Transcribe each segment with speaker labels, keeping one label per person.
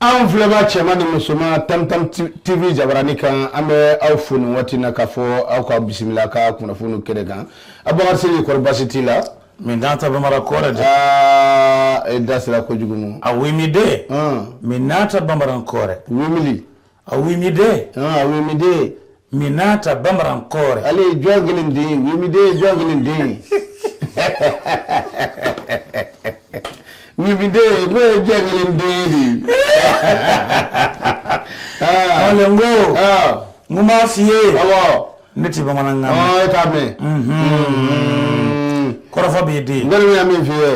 Speaker 1: an filɛba cɛman ni musoman tamtam tv jabarani kan an bɛ aw fo nin waati na k'a fɔ aw ka bisimila ka kunnafoniw kɛnɛ kan abubakar siriki kɔri basi t'i la min n'a ta
Speaker 2: bamara kɔrɛ dɛ aa
Speaker 1: e da sera kojugu mu a wimide
Speaker 2: min n'a ta bamara kɔrɛ wimili
Speaker 1: A wimide
Speaker 2: a wimide min n'a ta bamara kɔrɛ ale ye jɔn
Speaker 1: kelen den den ye jɔn kelen den ye nin den ne ye jɔn kelen den
Speaker 2: de ye ko n b'a f'i ye ne tɛ
Speaker 1: bamanankan
Speaker 2: mɛn. ɔɔ e t'a mɛn. kɔrɔfɔ b'i di. n kɔni bɛ min f'i ye.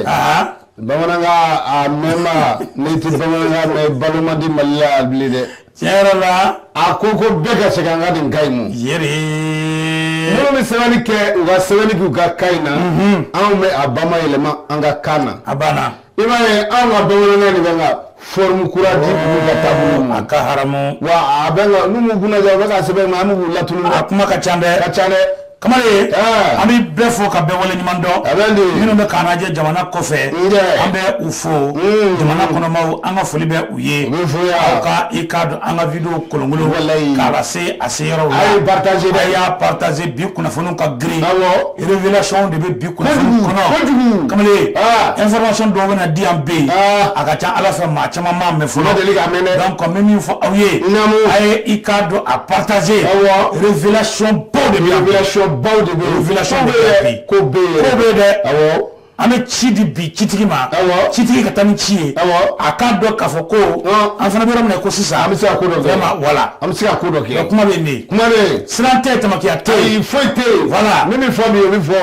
Speaker 1: bamanankan a mɛnba n'i tɛ bamanankan mɛn balo man di mali la yan bilen dɛ. tiɲɛ yɛrɛ la.
Speaker 2: a ko ko bɛɛ
Speaker 1: ka segin an ka nin ka ɲi mu. yeri.
Speaker 2: minnu
Speaker 1: bɛ sɛbɛnni kɛ u ka sɛbɛnni k'u ka kan in na. anw bɛ a bamayɛlɛma an ka kan na. a banna. i b'a
Speaker 2: ye an
Speaker 1: ka bamanankan de bɛ ka forme kura di olu ka taabolo ma a ka haramu
Speaker 2: wa a bɛ
Speaker 1: ka n'u m'u kunna ja u bɛ ka sɛbɛn ma an bɛ k'u latunun a kuma ka ca dɛ ka
Speaker 2: ca dɛ kamalen an bɛ bɛɛ fɔ ka bɛɛ wale ɲuman dɔn a bɛ de minnu bɛ k'an lajɛ jamana kɔfɛ an bɛ u fo hmm. jamana kɔnɔmaw an ka foli bɛ u ye u bɛ fo yan aw ka i k'a dɔn an ka video kolonkolon walayi k'a lase a se yɔrɔw la a ye partager dɛ a y'a partager bi kunnafoniw ka girin awɔ révélation de bɛ bi kunnafoni kɔnɔ kojugu kamalen information dɔw bɛna di yan bi a ka ca a la fɔ maa caman m'a mɛn fɔlɔ deli k'a mɛn dɛ donc n bɛ min fɔ aw ye naamu a ye i k'a dɔn a partager awɔ révélation baw de bɛ yan révélation baw de bɛ yan révélation bɛ yan bi ko bɛ yen ko bɛ yen dɛ awɔ an bɛ ci di bi citigi ma citigi ka taa ni ci ye a k'a dɔn k'a fɔ ko an fana bɛ yɔrɔ min na ko sisan an bɛ se ka ko dɔ kɛ voilà an bɛ se ka ko dɔ kɛ kuma bɛ kuma siran tɛ tamakiya tɛ yen foyi tɛ yen voilà min bɛ fɔ min o bɛ fɔ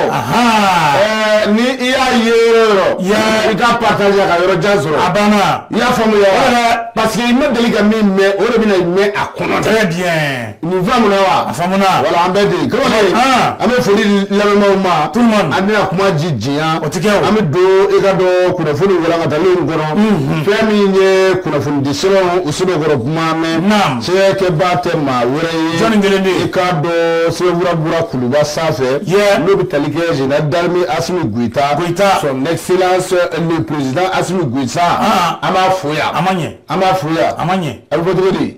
Speaker 2: ni i y'a ye yɔrɔ i k'a partager ka yɔrɔ jan sɔrɔ a banna i y'a faamuya parce que i ma deli ka min mɛn o de bɛna mɛn a kɔnɔ très bien Nin faamuna wa? A faamuna. Voilà an bɛ ten. Kamalen. An! An bɛ foli di lamɛnbaaw ma. Tout le monde. An tɛna kuma ji janya. O tɛ kɛ o. An bɛ don i k'a dɔn kunnafoni walankataliw kɔnɔ. Unhun! Fɛn min ye kunnafonidi sɛbɛnw u sɛbɛkɔrɔ kuma mɛn. Naamu! Sɛbɛn kɛbaa tɛ maa wɛrɛ ye. Jɔni kelen bɛ yen? I k'a dɔn sɛbɛnfura bɔra Kuluba sanfɛ. Yeah! N'o bɛ tali kɛ Général d'armée Assimi Goita. Goita! Son excellence le président Assimi Goita. An! An b'a fo yan. A ma ɲɛ. An b'a fo yan. A ma ɲɛ. A bɛ fɔ cogo di?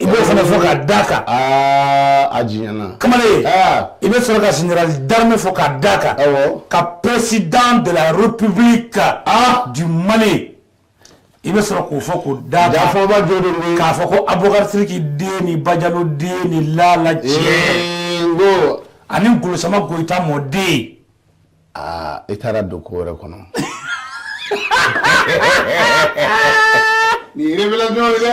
Speaker 2: i b'o fana fɔ k'a d'a kan aa a tiɲɛna kamalen Ah. i bɛ sɔrɔ ka général d'armée fɔ k'a d'a kan Awɔ. ka président de la république ah du mali i bɛ sɔrɔ k'o fɔ k'o d'a kan jafaba jo de bɛ k'a fɔ ko abubakar siriki den ni bajalo den ni lala cɛ Ee, n ko ani golosama goyita mɔden aa i taara don ko wɛrɛ kɔnɔ nin ye révélation ye dɛ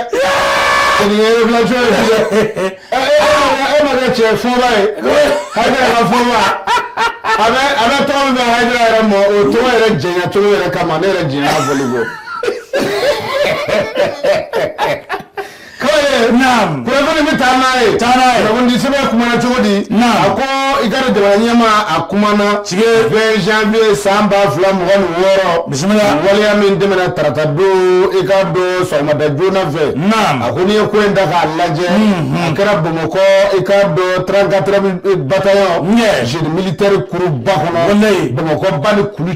Speaker 2: nin ye révélation ye dɛ ɛ ɛ e ma kɛ cɛ fɔba ye Haidara ka fɔba a bɛ a bɛ tɔgɔ min bɛ Haidara yɛrɛ mɔ o tɔgɔ yɛrɛ jɛɲa cogo yɛrɛ kama ne yɛrɛ jɛɲa a bolo ko. kɔrɔ naam kunnafoni bɛ taa n'a ye taa n'a ye kunnafoni sɛbɛn kumana cogo di naam a ko i k'a dɔn jamana ɲɛmaa a kumana tile 20 janvier san ba fila mugan ni wɔɔrɔ bisimila waleya min tɛmɛna tarata don i k'a dɔn sɔgɔmada joona fɛ naam a ko n'i ye ko in ta k'a lajɛ mhm. a kɛra bamakɔ i k'a dɔn 34 bataillon génie militaire kuruba kɔnɔ bamakɔ ba ni kulu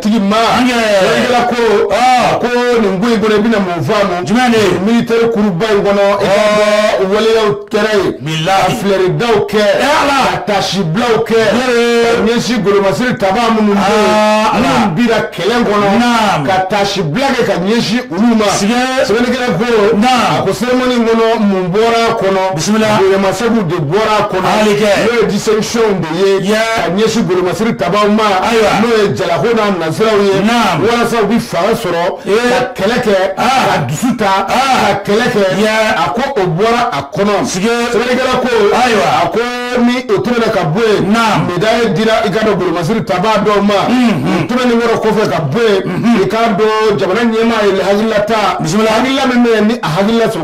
Speaker 1: tigi ma sɛbɛnnikɛla ko ko nin ko in kɔnɔ i bɛna mun fɔ a ma jumɛn de ye militaire kuruba in kɔnɔ i k'a dɔn waleyaw kɛra yen ka filɛridaw kɛ ka tasibilaw kɛ ka ɲɛsin golomasiri taba minnu minnu bira kɛlɛ kɔnɔ ka tasibila kɛ ka ɲɛsin olu ma sɛbɛnnikɛla ko a ko cérémonie in kɔnɔ mun bɔra a kɔnɔ bisimila bonyamasegiw de bɔra a kɔnɔ n'o ye distinction de ye ka ɲɛsin golomasiri tabaw ma ayiwa n'o ye jalako n'a nasiraw ye walasa u bɛ fanga sɔrɔ ka kɛlɛ kɛ ka dusu ta ka kɛlɛ kɛ a ko o bɔra a kɔnɔ sɛbɛnnikɛla ko ayiwa a ko ni o tɛmɛna ka bɔ yen médaille dira i k'a dɔn golomasiri taba dɔw ma tɛmɛnen kɔrɔ kɔfɛ ka bɔ yen i k'a dɔn jamana ɲɛmaa ye hakilila ta bisimila hakilila min bɛ ni a hala sɔrɔ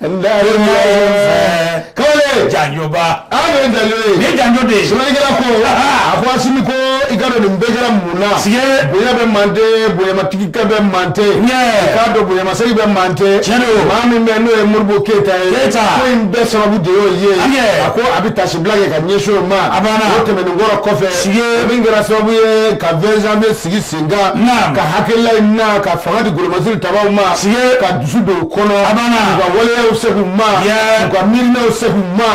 Speaker 2: Nka ko janjo
Speaker 1: ni janjo de
Speaker 2: sɛbɛnnikɛla
Speaker 1: ko a ko asimi ko i k'a dɔn nin bɛɛ kɛra mun na si bonya bɛ mande bonyamatigi ka bɛ mantɛ k'a dɔn bonyamasegi bɛ mantɛ cɛn maa min bɛ n'o ye modibo keyita ye ko in bɛɛ sababu de y'o ye a ko a bɛ tasibila kɛ ka ɲɛsin o ma o tɛmɛnen kɔrɔ kɔfɛ si min kɛra sababu ye ka 20 janvier sigi sen kan hakilila in na ka fanga di golomasiri tabaw ma si ka dusu don u kɔnɔ u ka waleyaw segu ma u ka miirinaw segu ma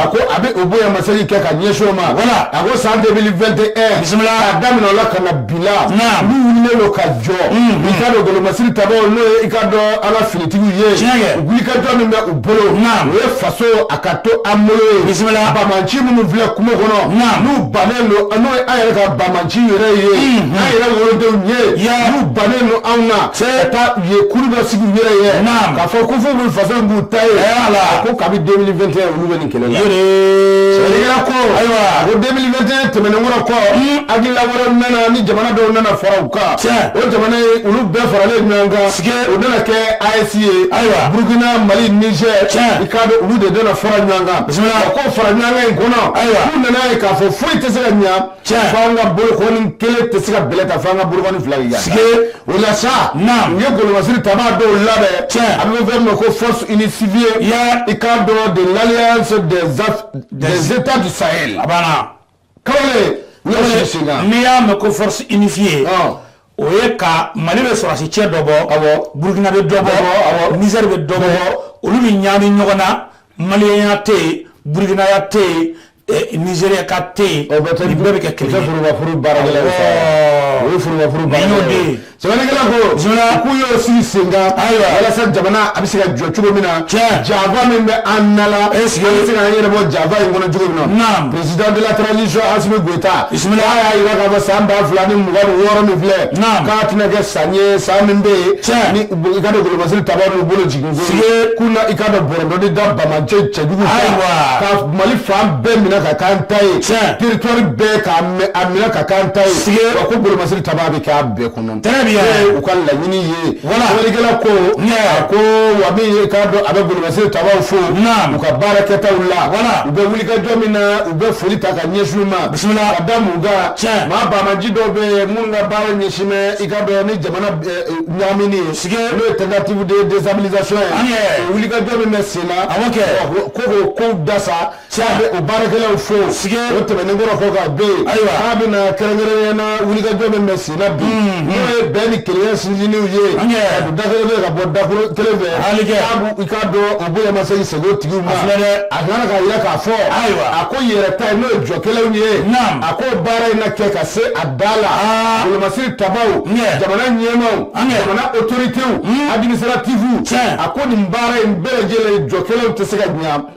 Speaker 1: a ko a bɛ o bonyamasegi kɛ ka ɲɛsin o ma wala a ko san 2021 bisimila a daminɛ o la ka na bila n'u wulilen don ka jɔ i k'a dɔn golomasiri tabaw n'o ye i k'a dɔn an ka finitigiw ye wulikajɔ min bɛ u bolo o ye faso a ka to an bolo ye bisimila bamanci minnu filɛ kungo kɔnɔ n'u bannen don n'o ye an yɛrɛ ka bamanci yɛrɛ ye mhm. an yɛrɛ wolodenw ye n'u bannen don anw na ka taa u ye kuru dɔ sigi u yɛrɛ ye k'a fɔ ko fo b'u faso b'u ta ye a ko kabi 2021 olu bɛ nin kɛlɛ la sɛbɛnnikɛla ko ayiwa a ko 2021 tɛmɛnen kɔrɔ kɔ mhm. hakilila wɛrɛ nana ni jamana dɔw nana fara u o jamana olu bɛɛ faralen ɲɔgɔn kan u nana kɛ AES ye ayiwa burukina mali nizɛri i k'a dɔn olu de nana fara ɲɔgɔn kan ko fara ɲɔgɔn in kɔnɔ ayiwa u nana ye k'a fɔ foyi tɛ se ka ɲɛ an ka bolokɔni kelen tɛ se ka bɛlɛ ta fo an ka bolokɔni fila o la sa u ye golomasiri taba dɔw labɛn cɛ a bɛ fɔ min ma ko force unifiée i k'a dɔn de l'alliance des états du sahel
Speaker 2: n'i y'a mɛn ko force unifiée o ye ka Mali bɛ sɔrɔdasi cɛ dɔ bɔ, awɔ, Burukina bɛ dɔ bɔ, awɔ, Nizɛri bɛ dɔ bɔ, olu bɛ ɲagami ɲɔgɔn na maliyɛnya tɛ yen burukinaya tɛ yen ɛ nizeriyaka tɛ yen, nin bɛɛ bɛ kɛ kelen ye, o bɛɛ bɛ kɛ forobafuru baarakɛlaw de ye,
Speaker 1: awɔ, o ye forobafuru baarakɛlaw ye, nin y'o de ye Sɛbɛnnikɛla ko k'u y'o sigi sen kan ayiwa walasa jamana a bɛ se ka jɔ cogo min na cɛ janfa min bɛ an na e sigi a bɛ se k'a yɛrɛ bɔ janfa in kɔnɔ cogo min na président de la transition Assimi Goïta bisimila y'a jira k'a fɔ san ba fila ni mugan ni wɔɔrɔ min filɛ k'a tɛna kɛ san ye san min bɛ yen cɛ i k'a dɔn golomasiri tabaw n'u bolo jigin k'u na i ka bɔdɔdi da bamacɛ cɛjugu ka mali fan bɛɛ minɛ ka k'an ta ye cɛ territoire bɛɛ k'a minɛ ka k'an ta ye sigi ko golomasiri taba k'a bɛɛ kɔnɔ u ka laɲini ye sɛbɛnnikɛla ko ko wa ye k'a dɔn a bɛ golomasiri tabaw fo u ka baarakɛtaw la u bɛ wulikajɔ min na u bɛ foli ta ka ɲɛsin u ma bisimila a da cɛ maa baamaji dɔw bɛ yen minnu ka baara ɲɛsin bɛ i k'a dɔn ni jamana ɲaamini ye sigi n'o ye tentative de déstabilisation ye wulikajɔ min bɛ sen na ko k'o kow dasa bɛ o baarakɛlaw fo o tɛmɛnen kɔrɔ fɔ ka bɛ yen k'a bɛna kɛrɛnkɛrɛnnenya na wulikajɔ min bɛ senna bi mm-hmm. n'o ye bɛn ni kelenya sinsinniw ye ka don da kelen fɛ ka bɔ da kelen fɛ i k'a dɔn o bonya ma se k'i segin o tigiw ma a kana ka yira k'a fɔ a ko yɛrɛ ta ye n'o ye jɔkɛlaw ye a ko baara in na kɛ ka se a da la ah. golomasiri tabaw jamana ɲɛmaaw jamana autoritéw mm. administrative a ko nin baara in bɛɛ lajɛlen jɔkɛlaw tɛ se ka ɲɛ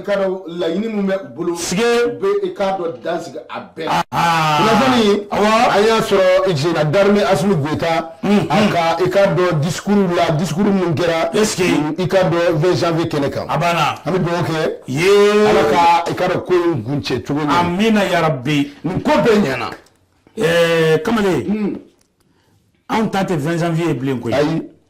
Speaker 1: laɲini min bɛ u bolo i k'a dɔn dan sigi a bɛɛ an y'a sɔrɔ général d'armée Assimi Goïta i k'a dɔn discours minnu kɛra i k'a dɔn vingt janvier kɛnɛ kan a an bɛ dugawu kɛ ala ka ko in kuncɛ cogo min amiina yarabi
Speaker 2: nin ko bɛɛ ɲɛna
Speaker 1: ɛɛ kamalen
Speaker 2: anw ta tɛ vingt janvier bilen ko ayi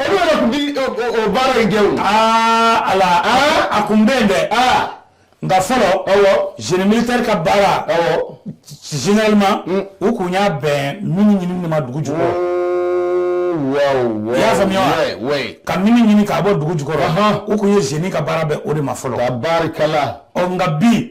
Speaker 1: olu yɛrɛ tun bi o baara in kɛ o
Speaker 2: aa ala a kun bɛ yen dɛ nka fɔlɔ awɔ génie militaire ka baara awɔ généralement mm. u kun y'a bɛn mini ɲinini de ma dugu jukɔrɔ mm, i y'a faamuya wa ka mini ɲini k'a bɔ dugu jukɔrɔ u kun ye génie ka baara bɛn o de ma fɔlɔ tabarikala
Speaker 1: ɔ nka bi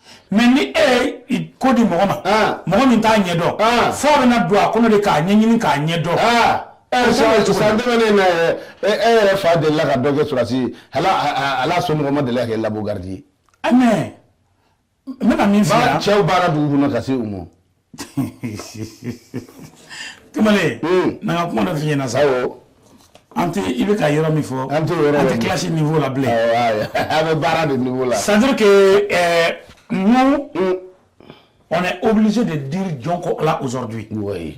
Speaker 1: mais ni
Speaker 2: e ye ko di mɔgɔ ma mɔgɔ min t'a ɲɛ dɔn fɔ a bɛna don a kɔnɔ de k'a ɲɛɲini k'a ɲɛ dɔn san
Speaker 1: tɛmɛnen na e yɛrɛ fa delila ka dɔ kɛ sɔrɔsiya la somɔgɔ ma deli ka kɛ labu garidi ye
Speaker 2: mais n bɛna min fɔ cɛw baara dugu kɔnɔ ka
Speaker 1: se u ma
Speaker 2: kamalen hmm. na n ka kuma dɔ f'i ɲɛna sa an tɛ i bɛ ka yɔrɔ min fɔ an tɛ yɔrɔ an tɛ classe niveau la bilen an bɛ
Speaker 1: baara de niveau la c'est à dire
Speaker 2: que euh, nous hmm. on est obligé de dire jɔnko là aujourd'hui oui.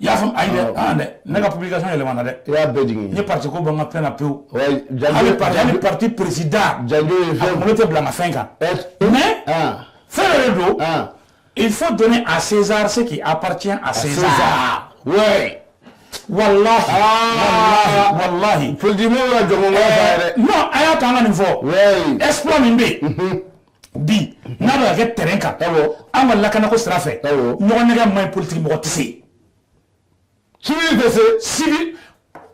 Speaker 1: I y'a faamu, ayi dɛ, ɔn,
Speaker 2: ɔn dɛ, ne ka publication yɛlɛmana dɛ, i y'a bɛɛ jigin, n ye
Speaker 1: parti ko bɔ n ka
Speaker 2: fɛn na pewu, wayi, janjo, hali parti, hali parti président, janjo ye fɛn, a kunkolo
Speaker 1: tɛ bila n ka fɛn
Speaker 2: kan, mais fɛn dɔ de don, il faut donner à César ce qui appartient à César, César, oui Walahi, walahi, walahi,
Speaker 1: politiki mɔgɔw ka jɔnɲɔgɔnya ta ye dɛ, non a y'a to an ka nin
Speaker 2: fɔ, wayi, exploit min bɛ yen bi n'a bɛ ka kɛ terrain kan an ka lakanako sira fɛ ɲɔgɔn nɛgɛn man ɲi politiki mɔgɔ tɛ
Speaker 1: se civil tɛ se civil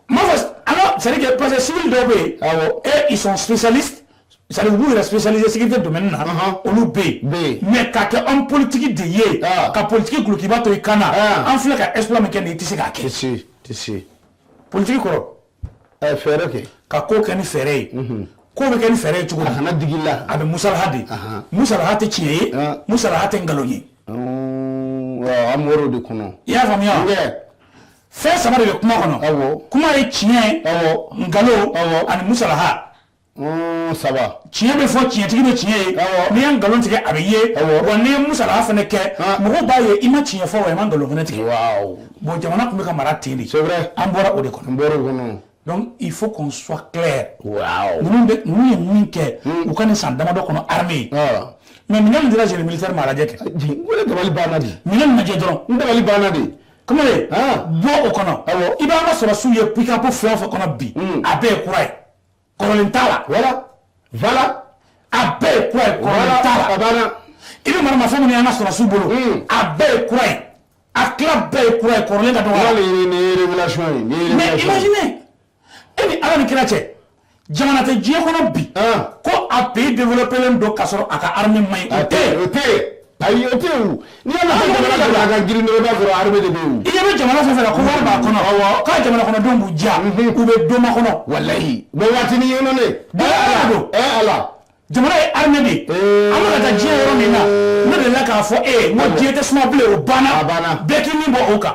Speaker 2: n m'a fɔ an ka c'est à dire que parce que civil dɔw bɛ yen et ils sont spécialistes c'est à dire u b'u yɛrɛ spécialiser sécurité domaine na olu bɛ yen mais ka kɛ homme politique de ye ka politiki dulokiba to i kan na an filɛ ka exploit min kɛ nin ye i tɛ se k'a kɛ
Speaker 1: politique kɔrɔ
Speaker 2: fɛɛrɛ kɛ
Speaker 1: ka ko kɛ ni
Speaker 2: fɛɛrɛ ye mhm. ko bɛ kɛ ni fɛɛrɛ ye cogo di a kana digi i la a bɛ
Speaker 1: musalaha de
Speaker 2: musalaha tɛ tiɲɛ ye musalaha tɛ nkalon ye
Speaker 1: an bɔr'o de kɔnɔ i y'a
Speaker 2: faamuya fɛn saba de bɛ kuma kɔnɔ kuma ye tiɲɛ nkalon ani musalaha
Speaker 1: saba tiɲɛ bɛ
Speaker 2: fɔ tiɲɛtigi bɛ tiɲɛ ye n'i ye nkalon tigɛ a bɛ ye wa n'i ye musalaha fana kɛ mɔgɔw b'a ye i ma tiɲɛ fɔ wa i ma nkalon fana tigɛ bon jamana tun bɛ ka mara ten de an bɔra o de kɔnɔ n bɔra o kɔnɔ donc il faut qu'on soit clair ninnu bɛ ninnu ye min kɛ u ka nin san damadɔ kɔnɔ armée mais minɛn min dira génie militaire ma a lajɛ kɛ n dabali banna
Speaker 1: de minɛn min lajɛ dɔrɔn n
Speaker 2: dabali banna de
Speaker 1: kamalen
Speaker 2: bɔ o kɔnɔ i b'an ka sɔrɔsiw ye pick-up fɛn o fɛn kɔnɔ bi a bɛɛ ye kura ye
Speaker 1: kɔrɔlen
Speaker 2: t'a la voilà voilà a bɛɛ ye kura ye kɔrɔlen t'a la a
Speaker 1: banna i
Speaker 2: bɛ
Speaker 1: maramafɛn
Speaker 2: minnu ye an ka sɔrɔsiw bolo hmm. a bɛɛ ye kura ye a tila bɛɛ ye kura ye kɔrɔlen ka dɔgɔ a la nin ye
Speaker 1: révélation ye nin ye mais
Speaker 2: imaginez e ni Ala ni kira cɛ jamana tɛ diɲɛ kɔnɔ bi ah. ko a pays développé len don ka sɔrɔ a ka armée man ɲi o tɛ yen o tɛ yen ayi o tɛ
Speaker 1: yen o n'i y'a mɛn jamana ka bila a ka girin dɔrɔn i b'a sɔrɔ armée de bɛ yen o. i ɲɛ bɛ jamana fɛn o fɛn la
Speaker 2: ko wari b'a kɔnɔ k'a jamana kɔnɔdenw b'u diya u bɛ doma kɔnɔ. walayi mɛ waati
Speaker 1: ni yɛlɛ ne. bɛɛ ala don ɛ
Speaker 2: ala. jamana ye armée de ye an bɛ ka taa diɲɛ yɔrɔ min na ne delila k'a fɔ e ye n ko diɲɛ tɛ suma bilen o banna bɛɛ k'i ni bɔ o kan.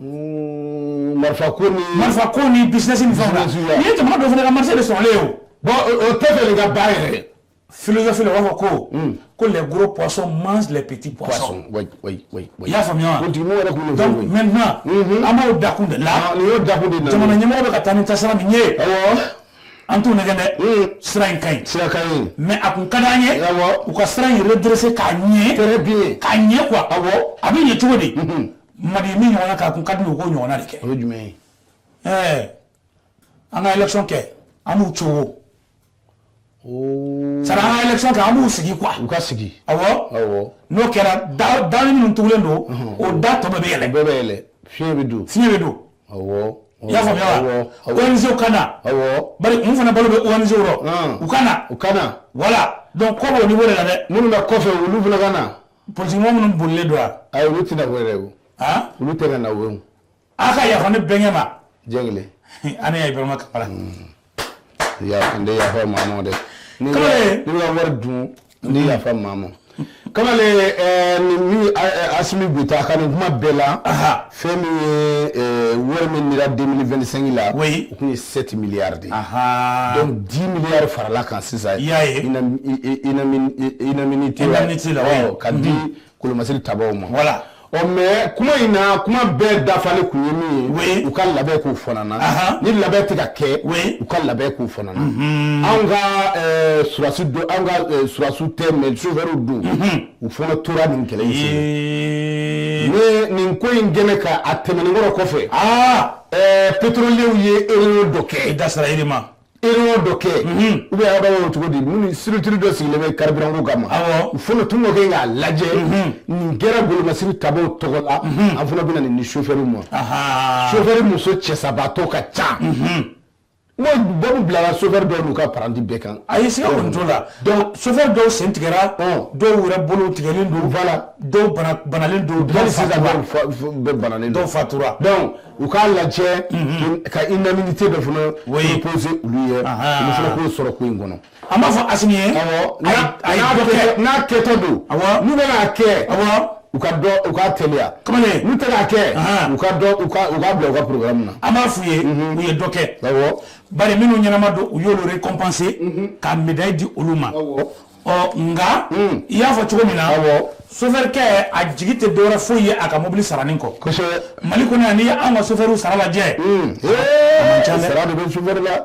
Speaker 2: Mm, marifa
Speaker 1: ko ni marifa ko ni business ni
Speaker 2: fɛnw na nin ye jamana dɔw fana ka marché de sɔrɔlen ye o bon o tɛ
Speaker 1: fɛ de ka ba yɛrɛ ye philosophie la u b'a fɔ
Speaker 2: ko ko les gros poissons mangent les petits poissons oui oui oui i
Speaker 1: y'a faamuya wa
Speaker 2: politikiw yɛrɛ kun de donc maintenant an b'o dakun de la nin y'o dakun de la
Speaker 1: jamana ɲɛmɔgɔ bɛ ka taa
Speaker 2: ni taasira min ye awɔ an t'u nɛgɛn dɛ sira in ka ɲi sira ka ɲi mais a
Speaker 1: kun ka d'an ye
Speaker 2: awɔ u ka sira in redresser k'a ɲɛ très bien k'a ɲɛ
Speaker 1: quoi awɔ
Speaker 2: a bɛ ɲɛ cogo di Madi min ɲɔgɔnna k'a kun ka di u k'o ɲɔgɔnna de kɛ o ye jumɛn ye an ka élection kɛ an b'u cogo sara an ka élection kɛ an b'u sigi quoi u ka sigi n'o kɛra da minnu tugulen don o da tɔ bɛɛ bɛ yɛlɛ bɛɛ bɛ yɛlɛ
Speaker 1: fiɲɛ bɛ don fiɲɛ bɛ
Speaker 2: don i y'a faamuya ONG ka na bari an fana balo bɛ ONG rɔ u ka na voilà donc ko b'o niveau de la dɛ minnu bɛ kɔfɛ olu fana
Speaker 1: ka na politigimɔgɔ minnu
Speaker 2: bolilen don wa ayi olu tɛna bɔ yɛrɛ
Speaker 1: o han olu tɛ ka na o ye a ka yafa ne
Speaker 2: bɛnkɛ ma diɲɛ kelen
Speaker 1: ani ya Ibrahima
Speaker 2: Kamara
Speaker 1: yafa n tɛ yafa maa ma dɛ ne Kamalen. n'i bɛ ka wari dun n tɛ yafa maa ma kamalen ɛɛ nin min Asimi Goita ka nin kuma bɛɛ la aha Fɛn min ye eh, wari min dira 2025 la o kun ye 7 milliards de ye donc 10 milliards farala kan sisan i y'a ye indemnité la ka di mhm. kolomasiri tabaw ma voilà ɔ oh, mais kuma in na kuma bɛɛ dafalen kun ye min ye u ka labɛn k'u fanana ni labɛn tɛ ka kɛ u ka labɛn k'u fanana mhm. anw ka eh, surasi don anw ka eh, surasiw tɛ mais sofɛriw don mhm. u fana tora nin kɛlɛ nin ko in gɛn ka a tɛmɛnen kɔrɔ kɔfɛ pétroliers ye réunion dɔ kɛ i dasira e ma réunion dɔ kɛ u b'a fɔ cogo di minnu structure dɔ sigilen bɛ carburant ko kama u fana tun kɛ k'a lajɛ nin kɛra kolomasiri tabaw tɔgɔ la an fana bɛna nin di sofɛri ma sofɛri muso cɛsabaatɔ ka ca Baro bilara so dɔw don u ka padi bɛɛ kan a ye sira muso la so dɔw sen tigɛ dɔw wɛrɛ bolo tigɛ don la dɔw banalen don bɛ dɔw fatura dɔnku u k'a lajɛ ka i na tɛ dɔ fana psi olu ye sɔrɔ ko in kɔnɔ an b'a fɔ Asimi ye, awɔ, a y'a a y'a dɔ kɛ n'a kɛtɔ don, awɔ, n'u bɛna a kɛ, awɔ, u ka dɔ u ka teliya, kamalen, n'u tɛ k'a kɛ, anhan, u ka dɔ u ka u ka bila u ka programme na, an b'a f'u ye, unhun, u ye dɔ kɛ, awɔ, bari minnu ɲɛnama don u y'olu récompenser unhun, ka médaille di olu ma, awɔ, ɔ nka, un, i y'a fɔ cogo min na, awɔ, chauffeur kɛ a jigi tɛ dɔwɛrɛ foyi ye a ka mobili saranin kɔ, kosɛbɛ, Mali kɔnɔ yan n'i ye anw ka chauffeur sara lajɛ, un, ee, a man ca dɛ, sara de bɛ chauffeur la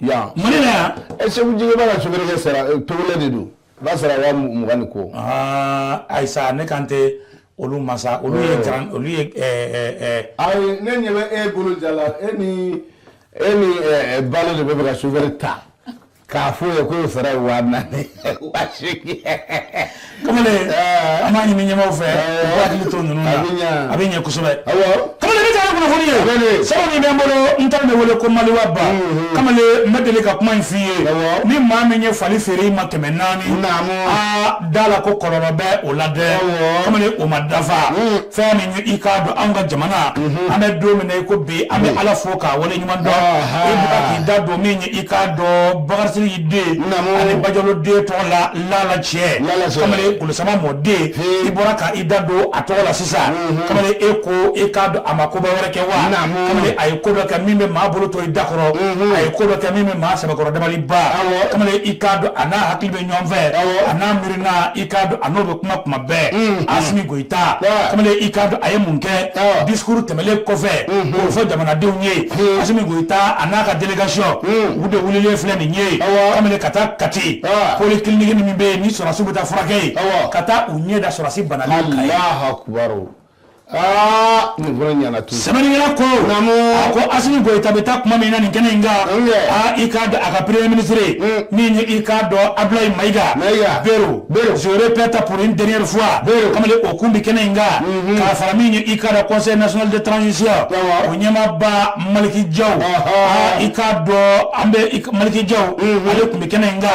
Speaker 1: yan Mali la yan ɛ Seku Jige b'a ka sofɛrɛkɛ sara ɛ, Togolɛ de don u b'a sara waa mu- mugan ni kɔ aa ayi sa ne kan tɛ olu ma sa olu ye Ee. garan olu ye ɛɛ ɛɛ ɛɛ ayi ne ɲɛ bɛ e bolo ja la e ni e ni ɛ, ɛ, balo de b'a fɛ ka sofɛrɛ ta k'a fɔ o ye k'o sara ye waa naani waa seegin
Speaker 2: kamalen eh. an b'a ɲini ɲɛmaw fɛ eh. u k'u hakili to ninnu na a bɛ ɲɛ kosɛbɛ kamalen ne taara kunnafoni ye sɛbɛn min bɛ n bolo n taara de wele ko maliwa ba mm-hmm. kamalen n bɛ deli ka kuma in f'i ye ni maa min ye fali feere i ma kɛmɛ naani aa da a la ko kɔlɔlɔ bɛ o la dɛ kamalen o ma dafa mm. fɛn min ye i k'a dɔn anw ka jamana mm-hmm. an bɛ don min na i ko bi an bɛ mm. Ala fo k'a wale ɲuman dɔn i bɔra k'i da don min ye i k'a dɔn Bakari Sidiki den ani Bajalo den tɔgɔ la sama mɔden i bɔra ka i da don a tɔgɔ la sisan kamalen e ko e k'a dɔn a ma koba wɛrɛ kɛ wa kamalen a ye ko dɔ kɛ min bɛ maa bolo to i da kɔrɔ a ye ko dɔ kɛ min bɛ maa sɛbɛkɔrɔ dabali ban kamalen i k'a dɔn a n'a hakili bɛ ɲɔgɔn fɛ a n'a miirina i k'a dɔn a n'o bɛ kuma kuma bɛɛ Asimi ta kamalen i k'a dɔn a ye mun kɛ discours tɛmɛlen kɔfɛ k'o fɔ jamanadenw ye Asimi Goyita a n'a ka délégation u de wililen filɛ nin ye kamalen ka taa Kati polyclinique min bɛ yen ni sɔrɔsiw bɛ taa furakɛ yen ka taa u ɲɛ da sɔrɔsi bana
Speaker 1: sɛbɛnnikɛla ko
Speaker 2: a ko Asimi Goyita bɛ taa tuma min na nin kɛnɛ in kan aa i k'a dɔn a ka premier ministre min ye i k'a dɔn Abulayi Mayiga Bero je répète pour une dernière fois kamalen o kun bɛ kɛnɛ in kan k'a fara min ye i k'a dɔn conseil national de transition o ɲɛmaaba Maliki Jaw aa i k'a dɔn an bɛ Maliki Jaw ale kun bɛ kɛnɛ in kan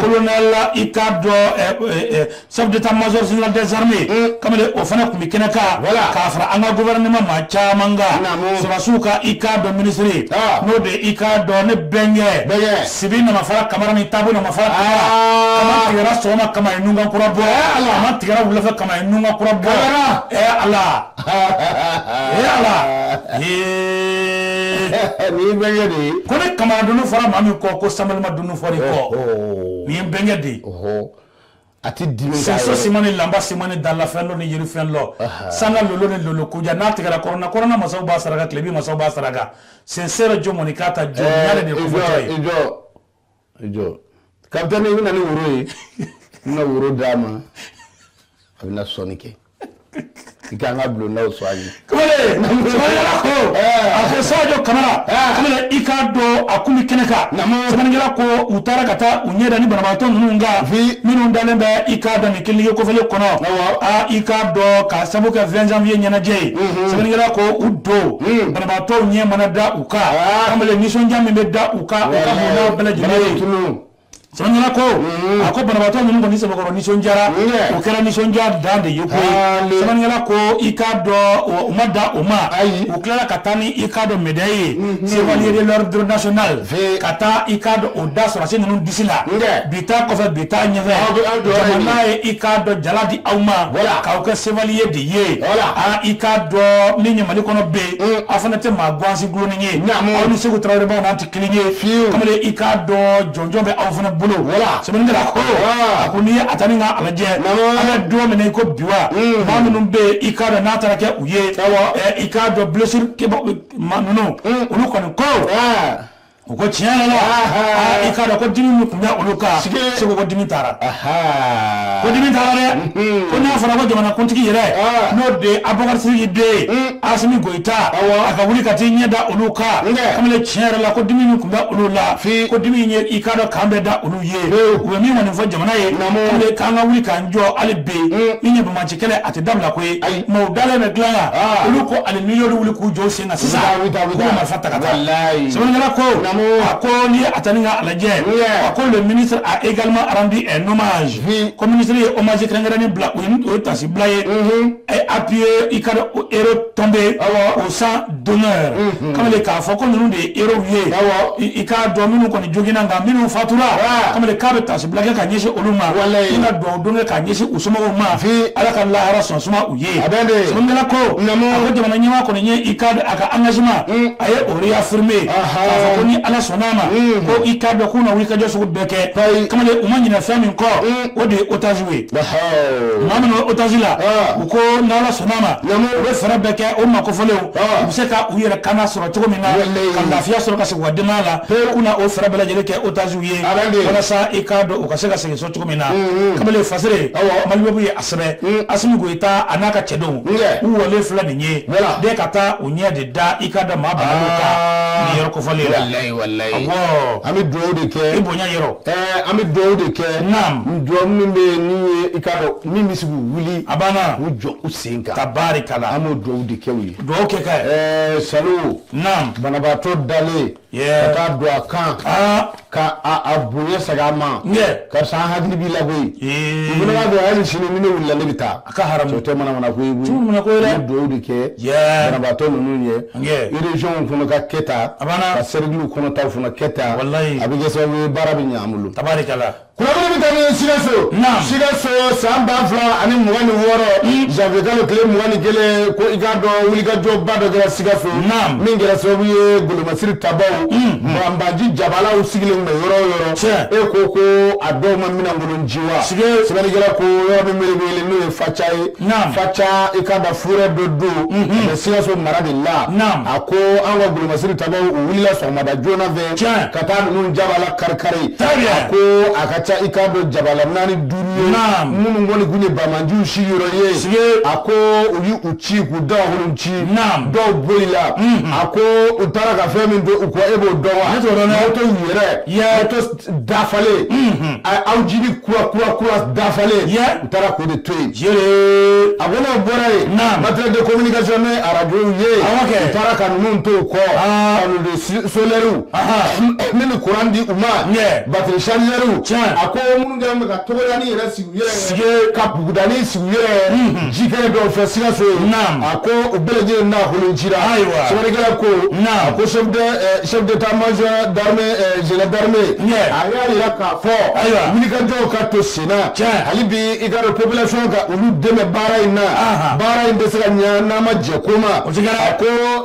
Speaker 2: colonel i k'a dɔn chef d'état-major général des armées mm. kamalen o fana kun bɛ kɛnɛ kan voilà k'a fara an ka gouvernement maa caman kan naamu sɔrɔdasiw ka i k'a dɔn ministre ah. n'o de ye i k'a dɔn ne bɛnkɛ bɛnkɛ Sibi Namafara Kamara ni Tabu Namafara Kamara ah. kama tigɛra sɔgɔma kama ye nunkan kura bɔ eh, ala kama tigɛra wulafɛ kama ye nunkan kura bɔ kamara ɛ eh, ala ɛ eh,
Speaker 1: ala nin ye bɛnkɛ de ye ko ne Kamara dunu fɔra
Speaker 2: maa min kɔ ko samɛlɛma dunu fɔra i kɔ oh, oh. nin ye bɛnkɛ de ye
Speaker 1: a tɛ dimi k'a Soso yɛrɛ- siman ni
Speaker 2: lanba siman ni dalafɛn dɔ ni yirifɛn dɔ sanna lolo ni lolo kujan n'a tigɛra kɔrɔna kɔrɔna masaw b'a saraka tilebin masaw b'a saraka sensere jo mɔni k'a ta jo Ɛɛ, ɲare de i jɔ, kofɔtɔ ye i jɔ, i
Speaker 1: jɔ. Capitaine, i bɛ na ni woro ye i bɛna woro d'a ma a bɛna sɔnni kɛ i k'an ka bulondaw soigner
Speaker 2: kamalen sɛbɛnnikɛla ko a ko sajo kamara kamalen i k'a dɔn a kun bɛ kɛnɛ kan sɛbɛnnikɛla ko u taara ka taa u ɲɛ da ni banabaatɔ ninnu kan minnu dalen bɛ i k'a dɔn nin clinique kofɔlen kɔnɔ aa i k'a dɔn ka sabu kɛ 20 janvier ɲɛnajɛ ye sɛbɛnnikɛla ko u don banabaatɔw ɲɛ mana da u kan kamalen nisɔndiya min bɛ da u kan u ka bondaw bɛɛ lajɛlen ye sɛbɛnnikɛla ko mm-hmm. a ko banabaatɔ ninnu kɔni sɛbɛkɔrɔ nisɔndiyara o kɛra nisɔndiya dan de ye koyi sɛbɛnnikɛla ko i k'a dɔn u ma dan o ma u tilala ka taa ni i k'a dɔn médaille ye mm-hmm. chevalier de l'ordre national ka taa i k'a dɔn o da sɔrɔsi ninnu disi la bi ta kɔfɛ bi ta ɲɛfɛ jamana ye i k'a dɔn jala di aw ma k'aw kɛ chevalier de ye a i k'a dɔn min ye mali kɔnɔ bɛ yen mm. aw fana tɛ maa gansi gulonni ye aw ni segu tarawelebaw n'a tigi kamalen i k'a dɔn jɔnjɔn bɛ aw fana bolo voilà sɛbɛnnikɛla ko a ko n'i ye a ta ni ka a lajɛ an bɛ don min na i ko bi wa maa minnu bɛ yen i k'a dɔn n'a taara kɛ u ye i k'a dɔn blessure maa ninnu olu kɔni ko u ko tiɲɛ yɛrɛ la i k'a dɔn ko dimi min tun bɛ olu kan segu ko dimi taara ko dimi taara dɛ ko n'a fɔra ko jamanakuntigi yɛrɛ n'o de ye abubakar sidiki den ye asimi goyi ta a ka wuli ka t'i ɲɛ da olu kan kamalen tiɲɛ yɛrɛ la ko dimi min tun bɛ olu la ko dimi ye i k'a dɔn kan bɛ da olu ye u bɛ min kɔni fɔ jamana ye k'an ka wuli k'an jɔ hali bi min ye banbaanci kɛlɛ a tɛ dabila koyi minnu dalen bɛ dilan kan olu ko hali n'i y'olu wuli k'u jɔ sen na sisan k'u bɛ marifa ta ka taa sɛbɛnnikɛla ko a ko n'i ye a ta ni ka a lajɛ a ko le ministre a également rendu un hommage ko ministre ye hommage kɛrɛnkɛrɛnnen bila o ye taasi bila ye A ye appuyé i k'a dɔn héros tombés au champ d'honneur unhun kamalen k'a fɔ ko ninnu de ye héros ye awɔ i i k'a dɔn minnu kɔni joginna nka minnu fatura aa kamalen k'a bɛ taasi bila kɛ ka ɲɛsin olu ma walahi ni ka duwawu don kɛ ka ɲɛsin u somɔgɔw ma fii Ala ka lahara sɔn suma u ye sɛbɛnnikɛla ko naamu a ko jamana ɲɛmaa kɔni ye i k'a dɔn a ka engagement un a ye o réaffirmer anhan k'a fɔ ko ni Ala sɔnn'a ma un ko i k'a dɔn k'u na wulikajɔ sugu bɛɛ kɛ ayi kamalen u ma ɲinɛ fɛn min kɔ un o de ye otages ye maa minnu bɛ otage la u ko n'Ala sɔnn'a ma u bɛ fɛɛrɛ bɛɛ kɛ o maa kofɔlenw u bɛ se ka u yɛrɛ kana sɔrɔ cogo min na ka lafiya sɔrɔ ka segin u ka denbaya la k'u na o fɛɛrɛ bɛɛ lajɛlen kɛ otages ye walasa i k'a dɔn u ka se ka segin so cogo min na kamalen Fasere Maliweb ye a sɛbɛn Asimi Goyita a n'a ka cɛdenw u wɔlen filɛ nin ye dɛ ka taa u ɲɛ de da i k'a dɔn maa bananenw kan nin yɔrɔ kofɔlen in na walahi walahi
Speaker 1: awɔɔ an bɛ duwawu de kɛ i bonya yɔrɔ
Speaker 2: Ɛɛ an bɛ dugawu
Speaker 1: de kɛ dugawu min bɛ yen i k'a dɔn min bɛ se k'u wuli a banna k'u jɔ
Speaker 2: u sen kan
Speaker 1: tabarikala an bɛ dugawu
Speaker 2: de kɛ
Speaker 1: u ye dugawu kɛ ka ɛɛ
Speaker 2: sa
Speaker 1: banabaatɔ dalen ka taa don a kan ka ka a bonya segin a ma karisa hakili b'i la koyi i fana b'a dɔn hali sini ni ne wulila ne bɛ taa A ka haramu o tɛ manamana ko ye koyi an bɛ dugawu de kɛ banabaatɔ ninnu ye région kɔnɔ ka kɛ tan ka cercle kɔnɔ taw fana kɛ tan walayi a bɛ kɛ sababu ye baara bɛ ɲɛ an bolo
Speaker 2: tabarikala an bɛ taa
Speaker 1: ni sikaso sikaso san ba fila ani mugan ni wɔɔrɔ janvier kalo tile mugan ni kelen ko i k'a dɔn wulikajɔba dɔ kɛra sikaso min kɛra sababu ye golomasiri tabaw banbaanci jabalaw sigilen bɛ yɔrɔ o yɔrɔ e ko ko a dɔw ma minɛn kolon ci sɛbɛnnikɛla ko yɔrɔ min bɛ wele n'o ye faca ye faca i k'a dɔn forêt dɔ don mais sikaso mara de la a ko an ka golomasiri tabaw u wulila sɔgɔmada joona fɛ ka taa ninnu jabala kari kari a ko a ka ca i k'a dɔn jabala naani duuru minnu kɔni tun ye banbaanciw sigiyɔrɔ ye a ko u y'u ci k'u dagakolon ci dɔw bolila a ko u taara ka fɛn min to u kɔ e b'o dɔn wa moto yɛrɛ dafalen aw jiri kura kura kura dafalen u taara k'o de to yen a ko n'o bɔra yen matériel de communication ni arajo ye u taara ka ninnu to u kɔ panneau solaire min bɛ kuran di u ma batiri chargeurw a ko minnu kɛlen bɛ ka togodanin yɛrɛ sigi ka bugudanin sigi u yɛrɛ ye kɛnɛ dɔw fɛ sikaso a ko u bɛɛ lajɛlen dagakolon cira ayiwa sɛbɛnnikɛla ko ko chef d'état-major général d'armée a y'a jira k'a fɔ ayiwa wulikajɔw ka to senna hali bi i k'a dɔn population ka olu dɛmɛ baara in na baara in tɛ se ka ɲɛ n'a ma jɛ ko ma a ko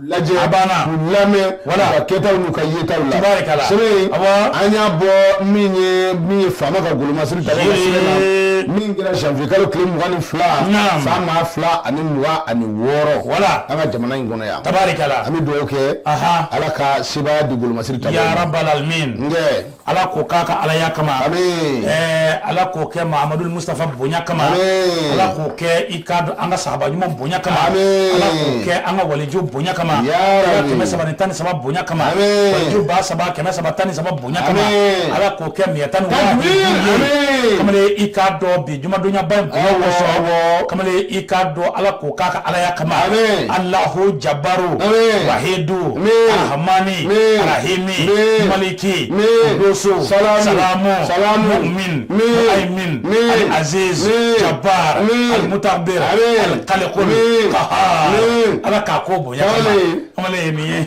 Speaker 1: lajɛ a banna u lamɛn walayi u ka kɛtaw n'u ka yetaw la tabarikala sɛbɛn an y'a bɔ min ye min ye faama ka golomasiri tabaw ka sɛbɛn na min kɛra janvier kalo tile mugan ni fila san ba fila ani mugan ani wɔɔrɔ walayi an ka jamana in kɔnɔ yan tabarikala an bɛ dugawu kɛ ala ka sebaaya di golomasiri tabaw ya rabal
Speaker 2: alamin nkɛ Ala k'o k'a ka alaya kama ala k'o kɛ mahamadu mustafa bonya kama ala k'o kɛ i k'a dɔn an ka sahaba ɲuman bonya kama ala k'o kɛ an ka waliju bonya kama kɛmɛ saba ni tan ni saba bonya kama ba saba kɛmɛ saba tan ni saba bonya kama ala k'o kɛ mi tan i k'a dɔn bi Jumadonyaba in bonya kosɔn kamalen i k'a dɔn ala k'o k'a ka alaya kama alahu jabaru wahidu arahamani arahimi maliki kudusu salamu muumini muhayimin alazizi jabar almutakabir alkaliku ala k'a kɛ o bonya kamalen ye min ye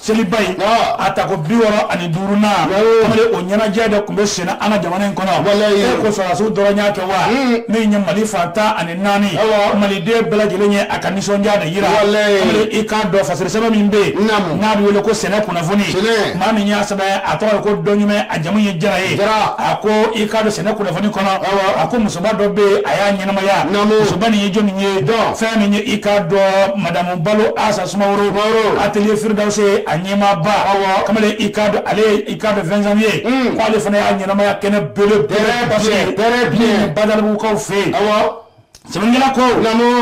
Speaker 2: seliba in a tako bi wɔɔrɔ ani duuru na kamalen o ɲɛnajɛ de tun bɛ senna an ka jamana in kɔnɔ e ko sɔrɔsiw dɔrɔn y'a kɛ wa min ye mali fan tan ani naani maliden bɛɛ lajɛlen ye a ka nisɔndiya de yira kamalen i k'a dɔn fasiri sɛbɛn min bɛ yen n'a bɛ wele ko sɛnɛ kunnafoni maa min y'a sɛbɛn a tɔgɔ ye ko dɔɲumɛ a jamu ye jara ye a ko i k'a dɔn sɛnɛ kunnafoni kɔnɔ a ko musoba dɔ bɛ yen a y'a ɲɛnamaya musoba nin ye jɔn ye fɛn min ye i k'a dɔn madamu balo asa sumaworo atelier Firidɔsi a ɲɛmaaba aw kamalen i ka ale i k'a dɔn vingt janvier k'ale fana y'a ɲɛnamaya kɛnɛ belebele badalabugukaw fɛ yen aw sɛbɛnnikɛla ko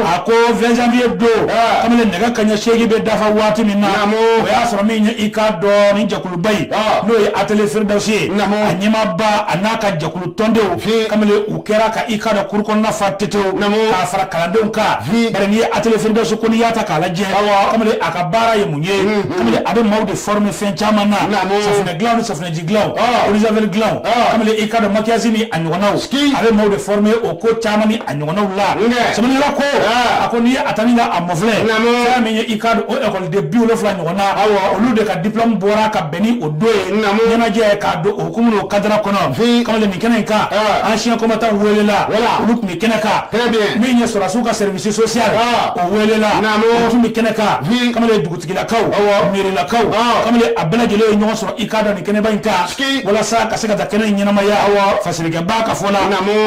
Speaker 2: a ko vingt janvier don kamalen nɛgɛ kanɲɛ seegin bɛ dafa waati min na o y'a sɔrɔ min i k'a dɔn ni jɛkuluba in n'o ye atelier Firidɔsi ye a ɲɛmaaba a n'a ka jɛkulu tɔndenw kamalen u kɛra ka i k'a dɔn kuru kɔnɔna fa tetew k'a fara kalandenw kan bari n'i ye atelier Firidɔsi ko n'i y'a ta k'a lajɛ kamalen a ka baara ye mun ye kamalen a bɛ maaw de former fɛn caman na safunɛ dilan ni safunɛji dilan eau de javel dilan kamalen i k'a dɔn maquillage ni a ɲɔgɔnnaw a bɛ maaw de former o ko caman ni a ɲɔgɔnnaw la sɛbɛnnikɛla ko a ko n'i ye a ta ni ka a mafilɛ fɛn min ye i k'a dɔn o ekɔliden bi wolonwula ɲɔgɔnna olu de ka diplôme bɔra ka Bɛn ni o don ye ɲɛnajɛ k'a don o hukumu n'o cadre kɔnɔ kamalen nin kɛnɛ in kan ancien combattant welela olu tun bɛ kɛnɛ kan min ye sɔrɔsiw ka service social o welela tun bɛ kɛnɛ kan kamalen dugutigilakaw mɛrilakaw kamalen a bɛɛ lajɛlen ye ɲɔgɔn sɔrɔ i k'a dɔn nin kɛnɛba in kan walasa ka se ka taa kɛnɛ in ɲɛnamaya aw fasilikɛba ka fɔ la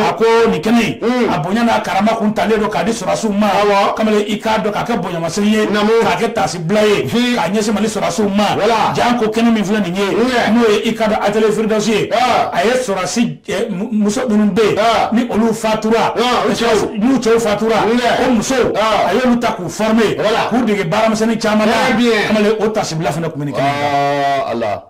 Speaker 2: a ko nin kɛnɛ a bonya n'a karama kun talen don k'a di sɔrɔsiw ma kamalen i k'a dɔn k'a kɛ bonyamasegin ye k'a kɛ bila ye k'a ɲɛsin mali sɔrɔsiw ma janko kɛnɛ min filɛ nin ye n'o ye i k'a dɔn atelier Firidɔsi ye a ye sɔrɔsi eh, muso minnu bɛ yen ni olu fatura n'u cɛw fatura o musow a y'olu ta k'u former k'u dege baaramisɛnnin caman na kamalen o taasibila fana tun bɛ nin kɛnɛ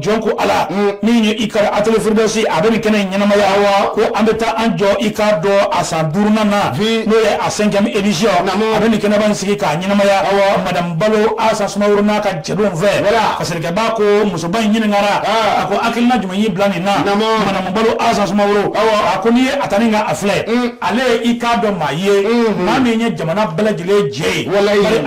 Speaker 2: jɔn ko ala min ye i ka atelier Firidɔsi a bɛ nin kɛnɛ in ɲɛnamaya wa ko an bɛ taa an jɔ i k'a dɔn a san duurunan na n'o ye a cinquième édition a bɛ nin kɛnɛba in sigi k'a ɲɛnamaya madamu balo asa sumaworo n'a ka cɛdenw fɛ fasilikɛba ko musoba in ɲininkara a ko hakilina jumɛn y'i bila nin na madamu balo asa sumaworo a ko n'i ye a ta nin ka a filɛ ale ye i k'a dɔn maa ye maa min ye jamana bɛɛ lajɛlen jɛ ye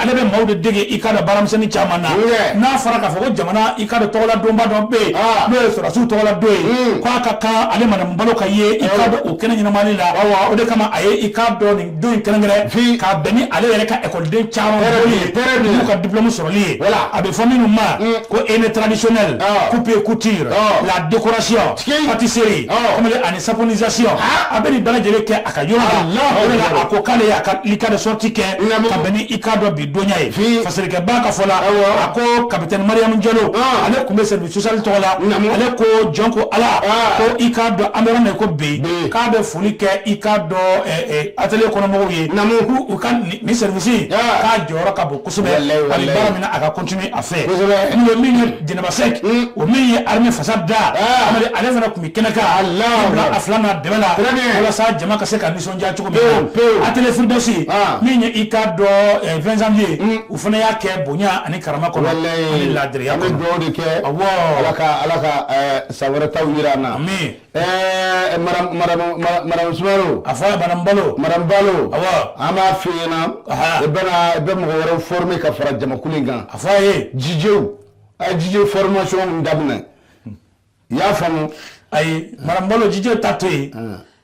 Speaker 2: ale bɛ maaw de dege i ka baaramisɛnnin caman na n'a fɔra k'a fɔ ko jamana i k'a dɔn tɔgɔla donba dɔ bɛ yen ah. n'o ye sɔrɔsiw tɔgɔla don ye hmm. k'a ka kan ale madamu balo ka ye i k'a dɔn o kɛnɛ ɲɛnamali la o de kama a ye i k'a dɔn nin don in kɛrɛnkɛrɛn k'a bɛn ni ale yɛrɛ ka ekɔliden caman bɔli ye n'u ka diplɔmu sɔrɔli ye a bɛ fɔ minnu ma hmm. ko henné traditionnel ah. coupe et couture ah. la décoration pâtisserie ani saponisation a bɛ nin bɛɛ lajɛlen kɛ a ka yɔrɔ la o de la a ko k'ale y'a ka ekɔliden sortie kɛ ka bɛn ni i k'a dɔn bi dɔnya ye Fii. fasalikɛba ka fɔ la Awɔ. a ko kapitɛni mariyamu jalo Ah. ale tun bɛ service social tɔgɔ la Naamu. ale ko jɔn ko ala Ah. ko i k'a dɔn an bɛ yɔrɔ min na ko bi Bi. k'a bɛ foli kɛ i k'a dɔn ɛ, ɛ, atelier kɔnɔmɔgɔw ye Naamu. k'u u ka ni nin service Ah. k'a jɔyɔrɔ ka bon kosɛbɛ Walayi, hali walayi. baara min na a ka continuer a fɛ Kosɛbɛ. n'o ye min ye jɛnɛba sɛk Mm. o min ye armée fasa da Ah. Amadu, ale fana tun bɛ kɛnɛ kan Allah. a fila n'a dɛmɛ la Très bien. walasa jama ka se ka nisɔn diya cogo min na Pewu, pewu. atelier Furudosi Ah. min ye i k'a dɔn eh, 20 janvier u fana y'a kɛ bonya ani karama kɔnɔ ani laadiriya an bɛ kɔnɔ dugawu de kɛ
Speaker 1: Awɔ. ala ka ala ka ɛɛ, san wɛrɛ taw jira an na Amin. ɛɛ
Speaker 2: madame madame
Speaker 1: ma- madame sumaworo a fɔ a ye madame
Speaker 2: balo madame balo
Speaker 1: Awɔ. an b'a
Speaker 2: f'i
Speaker 1: ɲɛna Aha. i bɛna i bɛ mɔgɔ wɛrɛw former ka fara jamakulu in kan a fɔ a ye jijew
Speaker 2: a
Speaker 1: ye jije formation min daminɛ i y'a faamu ayi madame
Speaker 2: balo jijɛ ta to yen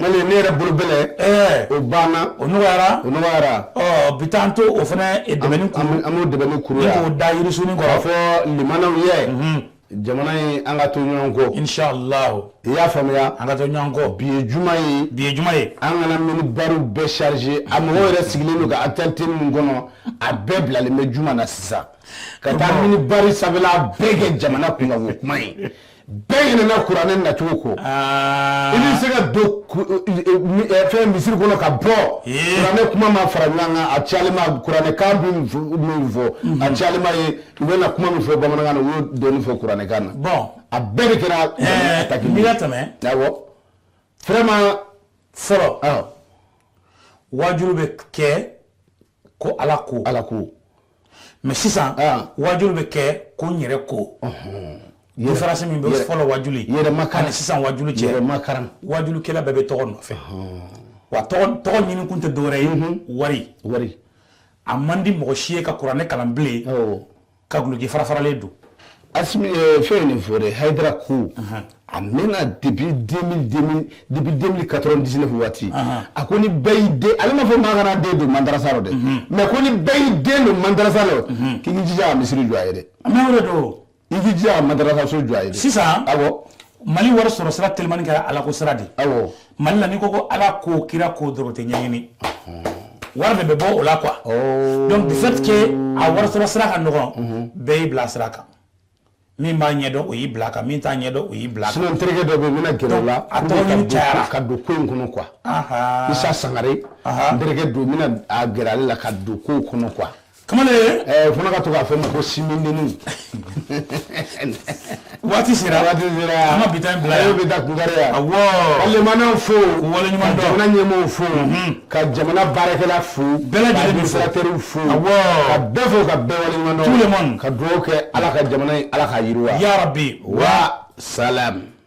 Speaker 2: Ne yɛrɛ bolo
Speaker 1: bɛlɛ o banna o nɔgɔyara u bi taa to
Speaker 2: o fana an
Speaker 1: dɛ da yirisun kɔrɔ
Speaker 2: fɔ limamaw ye
Speaker 1: jamana an ka to ɲɔgɔn kɔ inshallah i
Speaker 2: y'a
Speaker 1: faamuya an ka to ɲɔgɔn kɔ
Speaker 2: bi ye juma ye
Speaker 1: bi ye juma ye an
Speaker 2: kana minibari
Speaker 1: bɛɛ charger a mɔgɔw yɛrɛ sigilen don ka actualité min kɔnɔ a bɛɛ bilalen bɛ juma na sisan ka taa minibari sanfɛla bɛɛ kɛ jamana kunkan kuma ye bɛɛ ɲinɛna kuranɛ nacogo kɔ ah. i bɛ se ka don fɛn misiri kɔnɔ ka bɔ kuranɛ kuma ma fara ɲɔgɔn kan a cayalen ma kuranɛ kan bɛ min fɔ a mhm. cayalen ma ye u bɛ na kuma min fɔ bamanankan na u y'o dɔɔni fɔ kuranɛ kan na bon a bɛɛ
Speaker 2: de
Speaker 1: kɛra eh, takili n'i ka tɛmɛ awɔ vraiment fɔlɔ
Speaker 2: ah. wajulu bɛ kɛ ko ala ko ala
Speaker 1: ko
Speaker 2: mais sisan ah. wajulu bɛ kɛ ko n yɛrɛ ko différence min bɛ fɔlɔ wajulu yɛrɛmakaran ni sisan wajulu
Speaker 1: cɛ
Speaker 2: yɛrɛmakaran
Speaker 1: wajulukɛla bɛɛ
Speaker 2: bɛ tɔgɔ nɔfɛ wa tɔgɔ ɲini kun tɛ dɔwɛrɛ ye wari wari a man di mɔgɔ si ye ka kuranɛ kalan bilen ka guloki farafaralen don asimi
Speaker 1: eh, fɛn nin fɔ dɛ hayidara ko a mɛnna depuis 2000 2000 depuis 2000 99 waati a ko ni bɛɛ y'i den ale ma fɔ maa kana den don mandarasa rɔ dɛ mhm. mais ko ni bɛɛ y'i den don mandarasa rɔ mhm. k'i k'i jija ka misiri jɔ a ye dɛ mais o de don
Speaker 2: i k'i jija ka madarasa
Speaker 1: so jɔ a ye
Speaker 2: dɛ
Speaker 1: sisan awɔ
Speaker 2: mali
Speaker 1: wari sɔrɔ
Speaker 2: sira
Speaker 1: telimani
Speaker 2: kɛra alako
Speaker 1: sira de awɔ
Speaker 2: mali la n'i ko ko ala ko kira ko dɔrɔn tɛ ɲɛɲini wari de bɛ bɔ o la quoi oh. donc du fait que a wari sɔrɔ sira ka nɔgɔn mhm. bɛɛ y'i bila sira kan min b'a ɲɛdɔn o y'i bila kan min t'a ɲɛdɔn o y'i bila kan sinon n terikɛ dɔ bɛ yen n bɛna
Speaker 1: gɛrɛ o la a tɔgɔ ɲini cayara
Speaker 2: ka don ko in kɔnɔ
Speaker 1: quoi isa sangare n terikɛ don n bɛna a gɛrɛ ale la ka don ko in kɔnɔ quoi kamalen
Speaker 2: ɛɛ fana ka to k'a
Speaker 1: fɔ ma ko
Speaker 2: simindeni waati sera waati sera an ka bi ta in bila yan bɛ da kunkari yan
Speaker 1: awɔ ka lamɛnnaw
Speaker 2: fo
Speaker 1: k'u waleɲuman dɔn jamana
Speaker 2: ɲɛmɔgɔw fo
Speaker 1: mhm. ka jamana baarakɛla fo bɛɛ lajɛlen bɛ
Speaker 2: fo ka fo
Speaker 1: awɔ ka
Speaker 2: bɛɛ fo
Speaker 1: ka bɛɛ waleɲuman dɔn tout le monde ka dugawu kɛ
Speaker 2: ala ka
Speaker 1: jamana in ala k'a yiriwa yarabi wa salam